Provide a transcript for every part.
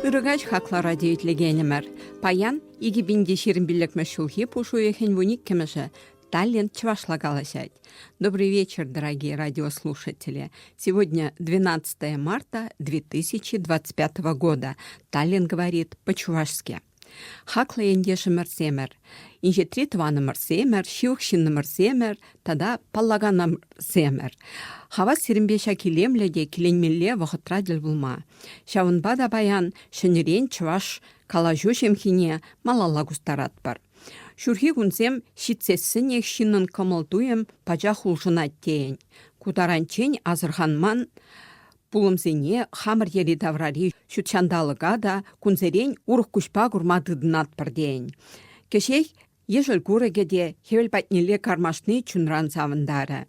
Ырӑкаҫ хаклӑ радио итлекенӗмӗр. Паян 2020 ҫурхи пуш уйӑхӗн вуниккӗмӗшӗ Таллент чвашла калаҫать. Добрый вечер, дорогие радиослушатели. Сегодня 12 марта 2025 года. Таллин говорит по-чувашски. Хаклӑ ентешӗмӗрсемӗр, инҫетри тӑванӑмӑрсемӗр, ҫывӑх ҫыннӑмӑрсемӗр тата паллаканӑмӑрсемӗр. Хавас сирӗнпе ҫак илемлӗ те киленмелле вӑхӑтра тӗл пулма. Ҫавӑнпа та паян ҫӗнӗрен чӑваш калаҫу ҫемхине малалла кустаратпӑр. Ҫурхи кунсем ҫитсессӗнех ҫыннӑн кӑмӑл-туйӑм пачах улшӑнать тейӗн. Ку таранччен асӑрханман пулӑмсене хамӑр йӗри-таврари ҫут ҫанталӑка та кунсерен урӑх куҫпа курма тытӑнатпӑр тейӗн. Кӗҫех ешӗл курӑкӗ те хӗвел патнелле кармашни чунран савӑнтарӗ.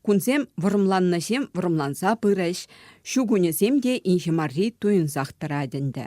Кунсем вӑрӑмланнӑҫем вӑрӑмланса пырӗҫ, ҫу кунӗсем те инҫе марри туйӑнсах тӑрать ӗнтӗ.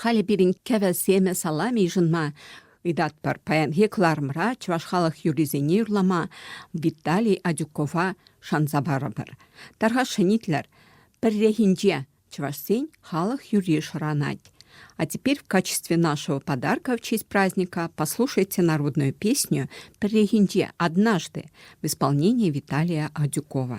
Халӗ пирӗн кӗвӗ семӗ саламӗ йышӑнма ыйтатпӑр. Паянхи кӑларӑмра чӑваш халӑх юррисене юрлама Виталий Адюкова шанса парӑпӑр. Тархасшӑн итлӗр, пӗррехинче чӑвашсен халӑх юрри шӑранать. А теперь в качестве нашего подарка в честь праздника послушайте народную песню «Пӗррехинче однажды» в исполнении Виталия Адюкова.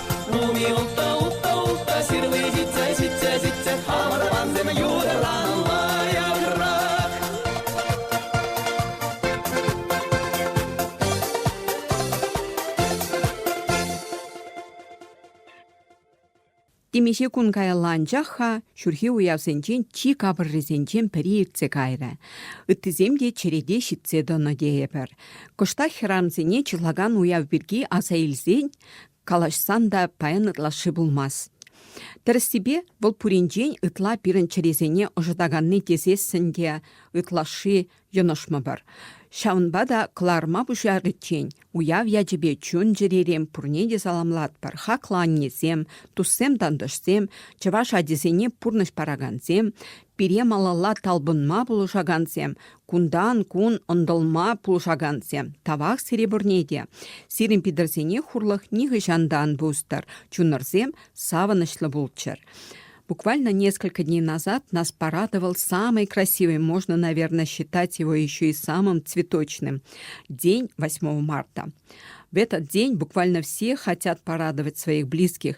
Улми утта, утта, утта, ҫырли ҫитсе, ҫитсе, ҫитсе, хамӑр пансем юрӑланма яврах. Темиҫе кун каялла анчах-ха ҫурхи уявсенчен чи капӑррисенчен пӗри иртсе кайрӗ. Ыттисем те черете ҫитсе тӑнӑ тейӗпӗр. Кӑштах хӗрамсене чӑрлакан уяв пирки аса илсен Калаҫсан та паян ытлашши пулмасть. Тӗрӗссипе, вӑл пуринчен ытла пирӗн чӗресене ӑшӑтаканни тесессӗн те ытлашши йӑнӑшмӑпӑр. Ҫавӑнпа та кӑларӑма пуҫариччен уяв ячӗпе чун-чӗререн пурне те саламлатпӑр. Хаклӑ аннесем, туссем-тантӑшсем, чӑваш ачисене пурнӑҫ паракансем, Пире малалла талпӑнма пулӑшакансем, кунтан-кун ӑнтӑлма пулӑшакансем тавах сире пурне те. Сирӗн пидорсене хурлӑх нихӑҫан та ан пустӑр, чунӑрсем савӑнӑҫлӑ пулччӑр. Буквально несколько дней назад нас порадовал самый красивый, можно, наверное, считать его еще и самым цветочным день 8 марта. В этот день буквально все хотят порадовать своих близких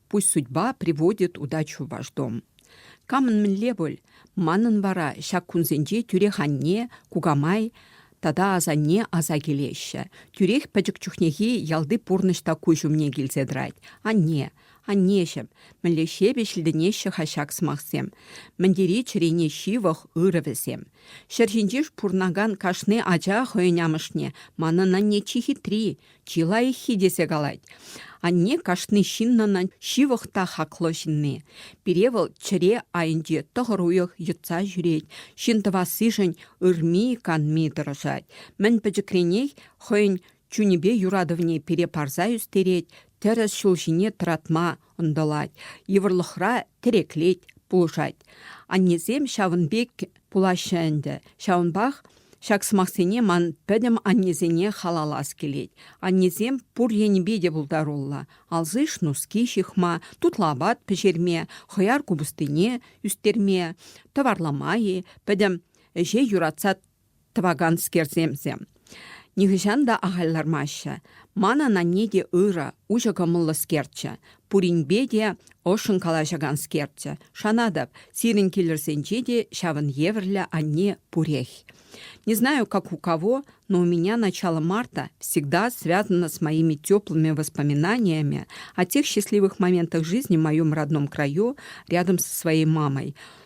Пусть судьба приводит удачу в ваш дом. Камӑн мӗнле пуль, манӑн вара ҫак кунсенче тӳрех анне, кукамай тата асанне аса килеҫҫӗ. Тӳрех пӗчӗк чухнехи ялти пурнӑҫ та куҫ умне килсе тӑрать. Анне, аннеҫӗм, мӗнле ҫепӗҫлӗтӗнеҫҫӗ-ха ҫак сӑмахсем, мӗн тери чӗрене ҫывӑх ырӑ вӗсем. Ҫӗр ҫинче пурӑнакан кашни ача хӑйӗн амӑшне, манӑн анне чи хитри, чи лайӑххи тесе калать. Анне кашни ҫыннӑн ҫывӑх та хаклӑ ҫынни. Пире вӑл чӗре айӗнче тӑхӑр уйӑх йӑтса ҫӳрет. Ҫын тӑвассишӗн ырми-канми тӑрӑшать. Мӗн пӗчӗкренех хӑйӗн чунӗпе юратӑвне пире парса ӳстерет, тӗрӗс ҫул ҫине тӑратма ӑнтӑлать, йывӑрлӑхра тӗреклет, пулӑшать. Аннесем ҫавӑн пек пулаҫҫӗ ӗнтӗ. Ҫавӑнпах ҫак сӑмахсене ман пӗтӗм аннесене халаллас килет. Аннесем пур енӗпе те пултаруллӑ. Алсиш нуски ҫыхма, тутлӑ апат пӗҫерме, хӑяр купӑстине ӳстерме, тӑварлама-и, пӗтӗм ӗҫе юратса тӑваканскерсемсем. Нихӑҫан та ахаль лармаҫҫӗ. Манӑн анне те ырӑ, уҫӑ кӑмӑллӑскерччӗ. Пуринпе те ӑшшӑн калаҫаканскерччӗ. Шанатӑп, сирӗн килӗрсенче те ҫавӑн евӗрлӗ анне пурех. Не знаю, как у кого, но у меня начало марта всегда связано с моими теплыми воспоминаниями о тех счастливых моментах жизни в моем родном краю рядом со своей мамой.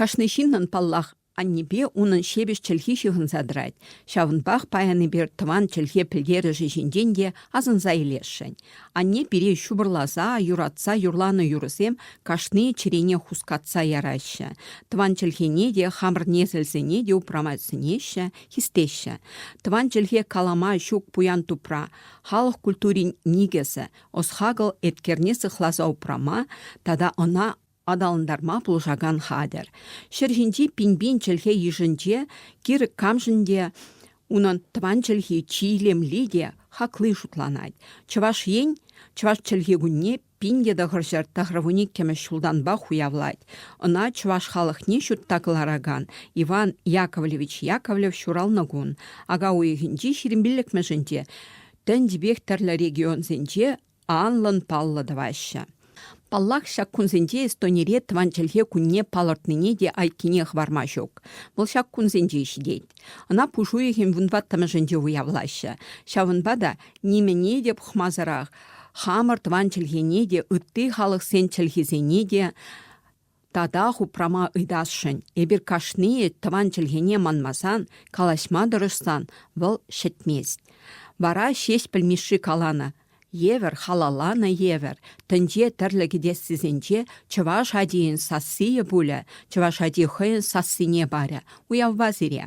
Кашни ҫыннӑн, паллах, аннепе унӑн ҫепӗҫ чӗлхи ҫыхӑнса тӑрать. Ҫавӑнпах паянипе тӑван чӗлхе пӗлтерӗшӗ ҫинчен те асӑнса илесшӗн. Анне пире ҫупӑрласа, юратса юрланӑ юрӑсем кашни чӗрене хускатса яраҫҫӗ. Тӑван чӗлхене те, хамӑр несӗлсене те упрама сӗнеҫҫӗ, хистеҫҫӗ. Тӑван чӗлхе калама ҫук пуян тупра, халӑх культурин никӗсӗ, ӑс-хакӑл эткерне сыхласа упрама тата ӑна Аталантарма пулӑшакан хатӗр. Ҫӗр ҫинчи пин-пин чӗлхе йышӗнче кирӗк камшӑн те унӑн тӑван чӗлхи чи илемли те хакли шутланать. Чӑваш Ен Чӑваш чӗлхи кунне пин тӑхӑр ҫӗр тӑхӑрвун иккӗмӗш ҫултанпах уявлать. Ӑна чӑваш халӑхне ҫутта кӑларакан Иван Яковлевич Яковлев ҫуралнӑ кун ака уйӑхӗнчи ҫирӗм пиллӗкмӗшӗнче тӗнчипех тӗрлӗ регионсенче анлӑн-паллӑ тӑваҫҫӗ. Паллах, ҫак кунсенче Эстонире тӑван чӗлхе кунне палӑртнине те айккине хӑварма ҫук. Вӑл ҫак кунсенче ҫитет. Ӑна пуш уйӑхӗн вунваттӑмӗшӗнче уявлаҫҫӗ. Ҫавӑнпа та нимӗне те пӑхмасӑрах хамӑр тӑван чӗлхене те, ытти халӑхсен чӗлхисене те Татах упрама ыйтасшӑн. Эпир кашнийӗ тӑван чӗлхене манмасан, калаҫма тӑрӑшсан вӑл ҫӗтмест. Вара Ҫеҫпӗл Мишши каланӑ, евӗр халалланӑ евӗр, тӗнче тӗрлӗ кӗтессисенче чӑваш ачийӗн сассийӗ пулӗ, чӑваш ачи хӑйӗн сассине парӗ, уявпа сире.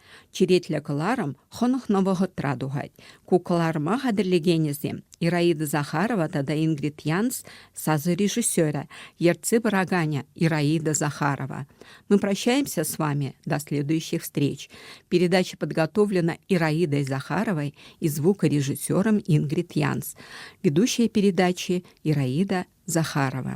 Черетлӗ кӑларӑм хӑнӑхнӑ вӑхӑтра тухать. Ку кӑларӑма хатӗрлекенӗсем Ираида Захарова тата Ингрид Янс сасӑ режиссерӗ, ертсе пыраканӗ Ираида Захарова. Мы прощаемся с вами до следующих встреч. Передача подготовлена Ираидой Захаровой и звукорежиссером Ингрид Янс. Ведущая передачи Ираида Захарова.